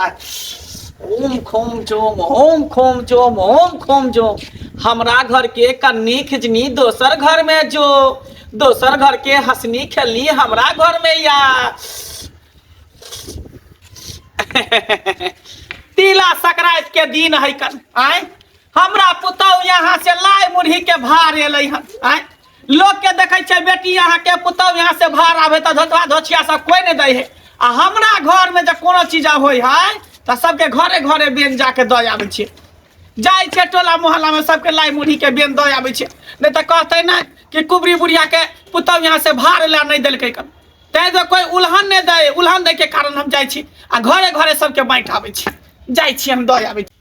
ओम खोम जोम होम खोम जोम होम खोम जोम हमरा घर के कन्नी खिजनी दोसर घर मे जो दोसर घर के हँसनी खेलनी हमरा घर मे या तिला संक्रान्त के दिन है कन आय हमरा पुतौह यहाँ से लाय मुरही के भार एलै हन आय लोग के देखे छे बेटी यहाँ के पुतौ यहाँ से भार आवे तो धोतवा धोछिया सब कोई नहीं दे है आ हमरा घर में जब कोनो चीज होय है तो सबके घरे घरे बेन जाके दे आवे छे जाय छे टोला मोहल्ला में सबके लाई मुढ़ी के बेन दे आवे छे नहीं तो कहते ना कि कुबरी बुढ़िया के पुतौ यहाँ से भार ला नहीं दिलके कन तै तो कोई उल्हन नहीं दे उल्हन दे के कारण हम जाय छी आ घरे घरे सबके बांट आवे छी जाय छी हम दे आवे छी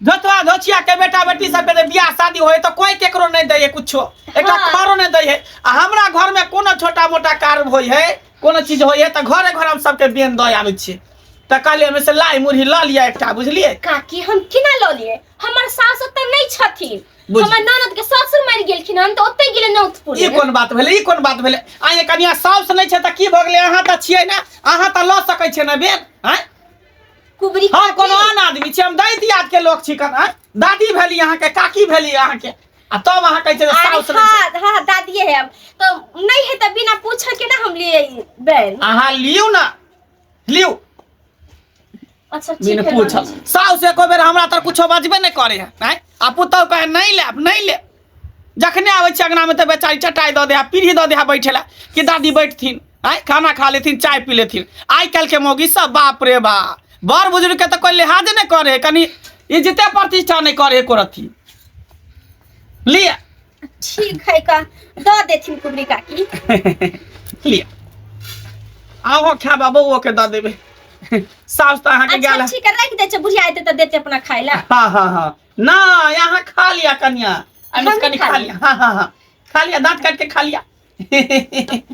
धोतवा धोचिया के बेटा बेटी सब के बियाह शादी होय तो कोई केकरो नहीं दे है कुछो एकटा हाँ। खरो नहीं दे है आ हमरा घर में कोनो छोटा मोटा कार होय है कोनो चीज होय है तो घरे घर हम सबके बेन दे आवे छी तो कहलिए हमें से लाई मुरही ल लिया एकटा बुझलिए काकी हम केना लऽ लिए हमर सास ओतऽ नहि छथिन बुझ- हमर ननद के ससुर मरि गेलखिन हम तऽ ओतै गेलै नौतपुर ई कोन बात भेलै ई कोन बात भेलै आइ कनिया साउस नहि छै तऽ की भऽ गेलै अहाँ तऽ छियै ने अहाँ तऽ लऽ सकै छियै ने बेन आँय कुबरी हम कोनो आन आदमी छी हम दैत याद के लोग छी कन आँय? दादी भेली अहाँ के काकी भेली अहाँ के आ तब अहाँ कहै छै जे अरे साउस रहै छै हाँ हाँ दादिए है हम तो नहीं है तो बिना पूछे के ना हम लिए ई बैल अहाँ लियौ ना लियौ अच्छा ठीक बिन है पूछल मामी। साउस एको बेर हमरा तर कुछो बजबे नहि करे है आँय? आ पुतहु कहे नहि लेब नहि लेब जखने आबै छी अङ्गनामे तऽ बेचारी चटाइ दऽ दे पीढ़ी दऽ दे बैठे लए कि दादी बैठथिन आँय खाना खा लेथिन चाय पी लेथिन आइ काल्हिके मौगी सब बाप रे बा बड़ बुजुर्गके तऽ कोइ लिहाजे नहि करे है कनि इज्जते प्रतिष्ठा नहि करे है एको रत्ती लिअ ठीक है का दऽ देथिन कुबरी काकी लिअ आहो खा बाबो ओके दऽ देबै साउस तऽ अहाँके गेल अच्छा ठीक है रख दे छै बुढ़िया एते तऽ देते अपना खाय ला हँ हँ हँ ना यहाँ खा लिया कन्या अभी हम कनी खा खा लिया हाँ हाँ हाँ खा लिया दांत काट के खा लिया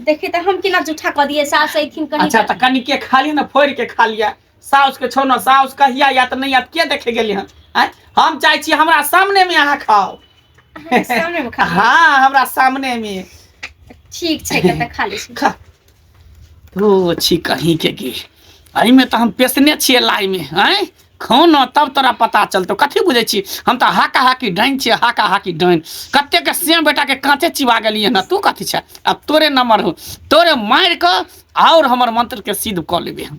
देखी तो हम किना जूठा कर दिए सास ऐथिन कहीं अच्छा तो कनी के खा लिया ना फोड़ के खा लिया साउस के छोड़ना साउस कहिया या तो नहीं आत के देखे गेली हन आँय? हम चाहे छी हमरा सामने में अहाँ खाओ हाँ, सामने में खा लिया। हाँ हमरा सामने में ठीक छै कतऽ खा लै छी खा ओ छी कहीं के की एहिमे तऽ हम पेशने छियै लाइमे आँय खाना तब तोरा पता चलतौ कथी बुझै छी हम तऽ हाका हाकी डाइन छियै हाका हाकी डाइन कतेकके सेम बेटाके काँचे चिबा गेलियै ने तू कथी छै आब तोरे नम्बर हौ तोरे मारि कऽ आओर हमर मन्त्रके सिद्ध कऽ लेबै हम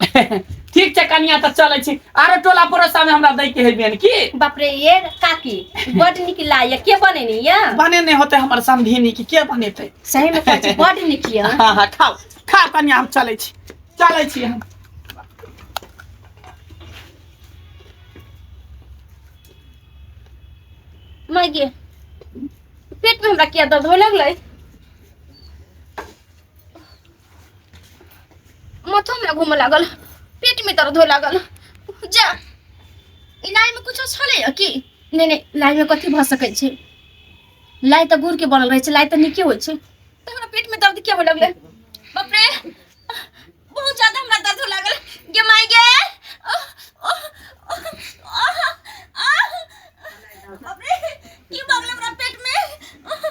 ठीक छै कनिया तऽ चलै छी आरो टोला पड़ोसा में हमरा दै के है बियन की बाप रे ये काकी बड निक लागैया के बनेनी या बने नहीं होते हमर समधिनी की के बनेते सही में कहै छी बड निक या हाँ हाँ खाओ खाओ कनिया हम चलै छी चलै छी हम मैं गे पेट में हमरा किया दर्द होए लगलै माथो में घूम लागल पेट में दर्द हो लागल जा इलाज में कुछ छले की नहीं नहीं इलाज में कथी भ सके छे लाई त गुड़ के बनल रहे छे लाई त निके होय छे त हमरा पेट में दर्द क्या हो लगले बाप रे बहुत ज्यादा हमरा दर्द हो लागल गे माय गे ओह, ओह, ओह, ओह, आह, बाप रे की भगले हमरा पेट में ओह,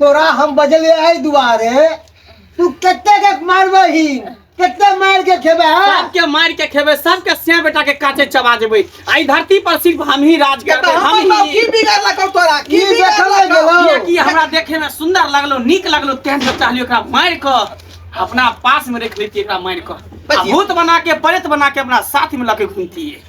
तोरा हम बजलिए एहि दुआरे तू कते के मारबही कते मार के खेबे सबके मार के खेबे सबके से बेटा के काटे चबा देबे आई धरती पर सिर्फ हम ही राज करबे हम ही की बिगाड़ लगा तोरा की बिगाड़ लगा की हमरा देखे में सुंदर लगलो नीक लगलो तेहन से चाहलियो एकरा मार के अपना पास में रख लेती एकरा मार के भूत बना के प्रेत बना के अपना साथ में लके घूमती है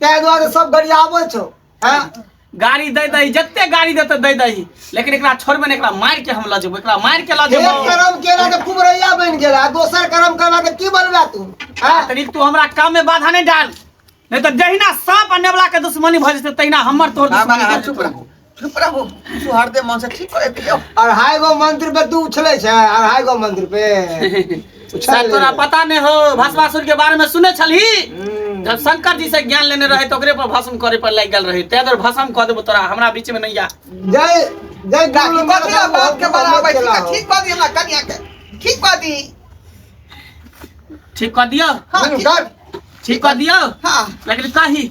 ताहि दुआरे सब गरियाबै छौ हैं गाड़ी दे दही जते गाड़ी देते दे दही लेकिन एकरा छोड़बे ने एकरा मार के हम ल जेबो एकरा मार के ल एक जेबो करम केला तऽ खूब रैया बनि गेल आ दोसर करम करबा तऽ की बनबा तू हैं तनिक तू हमरा काम में बाधा नहीं डाल नहीं तो जहिना सांप आ नेवला के दुश्मनी भऽ जेतै तहिना हमर तोहर बाबा दुश्मनी अहाँ भऽ चुप जेतौ। रहू चुप रहू यीशु हरदे मन से ठीक करे दियो अढ़ाई गो मंत्र पे तू उछले छै अढ़ाई गो मंत्र पे शायद तोरा पता नहीं हो भस्मासुर के बारे में सुने छली हम्म। जब शंकर जी से ज्ञान लेने रहे तो ओकरे पर भस्म करे पर लग गल रहे तै दर भस्म कह देबो तोरा हमरा बीच में नहीं आ जय जय बाकी गुरु बात या बात के बराबर ठीक है, ठीक बात हमरा कन्या के ठीक बात ई ठीक कह दियो हां गुरु ठीक- कर ठीक कह दियो हां लेकिन कही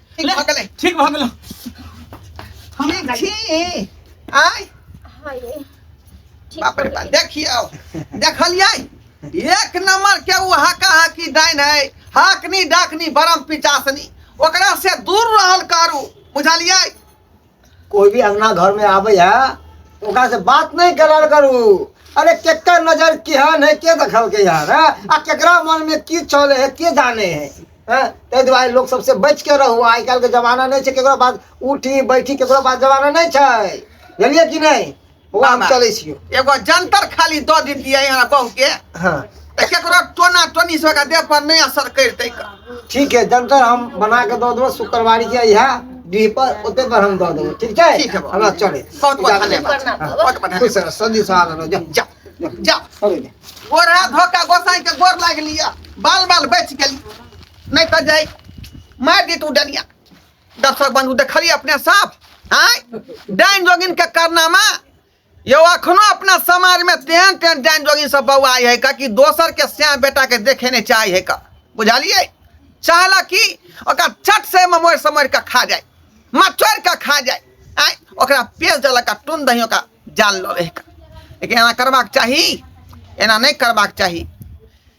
ठीक भऽ गेलै ठीक भऽ गेलौ हम ई छी आय हाय ठीक बाप रे बाप देखियौ देखलियै एक नंबर के उ हाका हाकी डाइन है हाकनी डाकनी बरम पिचासनी ओकरा से दूर रहल करू बुझलियै कोई भी अंगना घर में आवे है तो ओकरा से बात नहीं करल करू अरे केकर नजर केहन है के देखल के यार है? आ केकरा मन में की चले है के जाने है हैं? ताहि दुआरे लोग सबसे बच के रहू आइ काल्हि के जमाना नहि छै केकरो पास उठी बैठी केकरो पास जमाना नहि छै बुझलियै कि नहि हम बाबा, चलै छियो एगो जंतर खाली दऽ दितियै यहाँ बहु के हाँ तऽ केकरो टोना टोनी से ओकरा देह पर नहि असर करितै कऽ। ठीक है जंतर हम बना के दऽ देबो शुक्रवारी के यहाँ डीह पर ओते पर हम दऽ देबो ठीक है ठीक है बाबा। हमरा चले बहुत बहुत इजाजत धन्यवाद दे। हाँ। बहुत बहुत खुश धन्यवाद रह सदी सहारा रह जा जा जा चले जा। गोरा धोका गोसाई के गोर लाग लिया बाल बाल बच गेली नहीं तो जाई मार दी तू डलिया दर्शक बंधु देखलिए अपने सब आय डाइन जोगिन के कारनामा यो अखनो अपना समाज में तेहन तेहन डाइन जोगिन सब बौआई है का कि दोसर के श्याम बेटा के देखे नहीं चाहे है का बुझलिए चाहला कि ओकर चट से ममोर समोर के खा जाए मचोर के खा जाए आय ओकरा पेश देलक का टुन दही ओकरा जान लो रहे का लेकिन एना करबाक चाही एना नहीं करबाक चाही